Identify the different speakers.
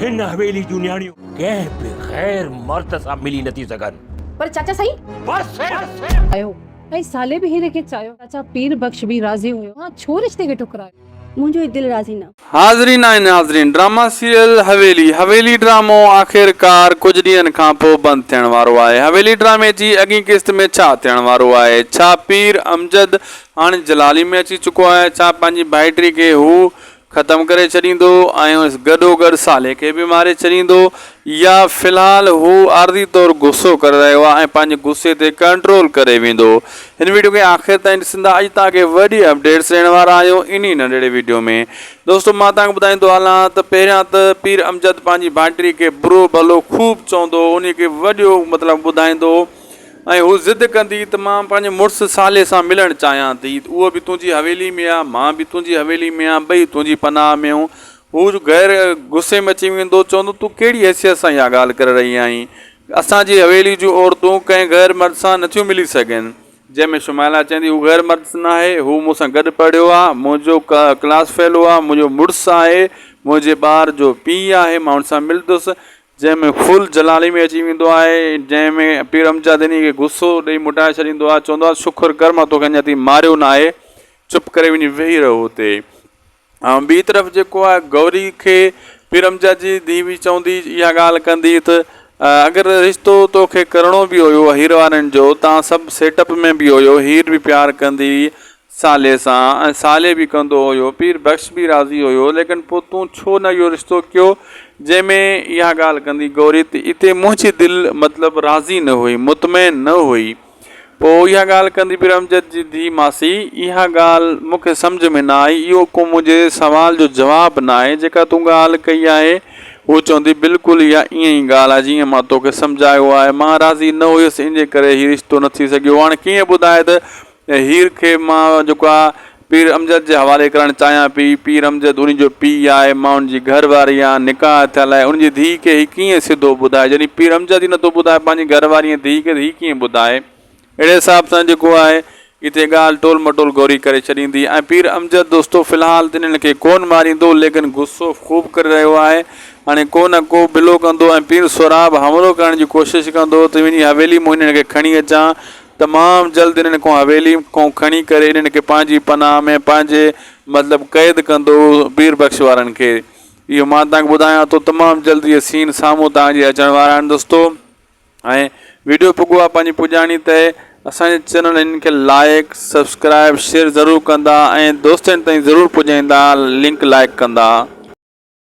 Speaker 1: هن حويلي جون نياڻيون ڪنهن به غير مرد سان ملي نٿي سگهن. پر چاچا سائين!
Speaker 2: بس ڪر!
Speaker 1: ڪيو
Speaker 2: ۽ سالي به هن کي چاهيو. چاچا پير بخش به راضي هيو. ها ڇو رشتي کي ٺڪرايو؟ منهنجو هي دل راضي
Speaker 3: نه. حاضرين ۽ ناظرين
Speaker 4: ڊراما سيريل حويلي حويلي ڊرامو آخرڪار ڪجهه ڏينهن کان پو بند ٿيڻ وارو آهي حويلي ڊرامي جي اڳين قسط ۾ ڇا ٿيڻ وارو آهي ڇا پير امجد هاڻي جلالي ۾ اچي چڪو آهي ڇا پنهنجي ڀائٽي کي هو ختم ڪري ڇڏيندو ۽ گڏوگڏ صالح کي به ماري ڇڏيندو يا في الحال هو عارضي طور غصو ڪري رهيو آهي ۽ پنهنجي غصي تي ڪنٽرول ڪري ويندو هن ويڊيو کي آخر تائين ڏسندا اڄ توهان کي وڏي اپڊيٽس ڏيڻ وارا آهيون انهي ننڍڙي ويڊيو ۾ دوستو مان توهان کي ٻڌائيندو هلان ته پهريان ته پير امجد پنهنجي ڀائٽي کي برو ڀلو خوب چوندو انهي کي وڏيو مطلب ٻڌائيندو ۽ هوء ضد ڪندي ته مان پنهنجي مڙس صالح سان ملڻ چاهيان ٿي. اهو به تنهنجي حويلي ۾ آ، مان به تنهنجي حويلي ۾ آهيان، ٻئي تنهنجي پناهه ۾ آهيون. هوء غير غصي ۾ اچي ويندو، چوندو، تون ڪهڙي حيثيت سان اها ڳالهه ڪري رهي آهين؟ اسان جي حويلي جون عورتون ڪنهن غير مرد سان نٿيون ملي سگهن. جنهن ۾ شمائلا چوندي، هو غير مرد ناهي، هو مون سان گڏ پڙهيو آ، منهنجو ڪلاس فيلو آ، منهنجو مڙس آهي، منهنجي ٻار جو پيء آهي، مان هن سان ملندس. جنهن ۾ فل جلالي ۾ اچي ويندو آهي، جنهن ۾ پير امجد انهيء کي غصو ڏيئي موٽائي ڇڏيندو آهي، چوندو آهي، شڪر ڪر مان توکي اڃا تائين ماريو ناهي، چپ ڪري وڃي ويهي رهه اتي. ۽ ٻي طرف جيڪو آهي گوري کي پير امجد جي ڌيء به چوندي اها ڳالهه ڪندي ته اگر رشتو توکي ڪرڻو به هيو هير وارن جو تان سڀ سيٽ اپ ۾ به هيو، هير به پيار ڪندي هئي، صالح سان ۽ صالح به ڪندو هيو. پير بخش به راضي هيو. ليڪن پوء تون ڇو نه اهو رشتو ڪيو؟ جنهن ۾ اها ڳالهه ڪندي گوري ته اتي منهنجي دل مطلب راضي نه هئي، مطمئن نه هئي. پوء اها ڳالهه ڪندي پير امجد جي ڌيء ماسي، اها ڳالهه مون کي سمجهه ۾ نه آئي، اهو ڪو منهنجي سوال جو جواب نه آهي، جيڪا تون ڳالهه ڪئي آهي، هو چوندي بلڪل اها ائين ئي ڳالهه آهي جيئن مان توکي سمجهايو آهي. مان راضي نه هيس، انهيء ڪري هي رشتو نه ٿي سگهيو. هاڻ ڪيئن ٻڌائي ته ۽ هير کي مان جيڪو آ پير امجد جي حوالي ڪرڻ چاهيان پي. پير امجد ان جو پيء آهي، مان ان جي گهر واري آهيان، نڪاح ٿيل آهي، ان جي ڌيء کي هي ڪيئن سڌو ٻڌائي، جڏهن پير امجد ئي نٿو ٻڌائي پنهنجي گهر واري ۽ ڌيء کي ته هي ڪيئن ٻڌائي. اهڙي حساب سان جيڪو آهي اتي ڳالهه ٽول مٽول گوري ڪري ڇڏيندي ۽ پير امجد دوستو في الحال ته انهن کي ڪونه ماريندو ليڪن غصو خوب ڪري رهيو آهي، هاڻي ڪو نه ڪو بلو ڪندو ۽ پير سهراب حملو ڪرڻ جي ڪوشش ڪندو ته وڃي حويلي مون انهن کي کڻي اچان، تمام جلد انهن کان حويلي کان کڻي ڪري انهن کي پنهنجي پناهه ۾ پنهنجي مطلب قيد ڪندو پير بخش وارن کي اهو مان توهان کي ٻڌايان ٿو تمام جلد اهي سين سامهون توهان جي اچڻ وارا آهن دوستو ۽ ويڊيو پڳو آهي پنهنجي پڄاڻي تي اسان جي چينل انهن کي لائق سبسڪرائب شيئر ضرور ڪندا ۽ دوستن تائين ضرور پڄائيندا لنڪ لائق ڪندا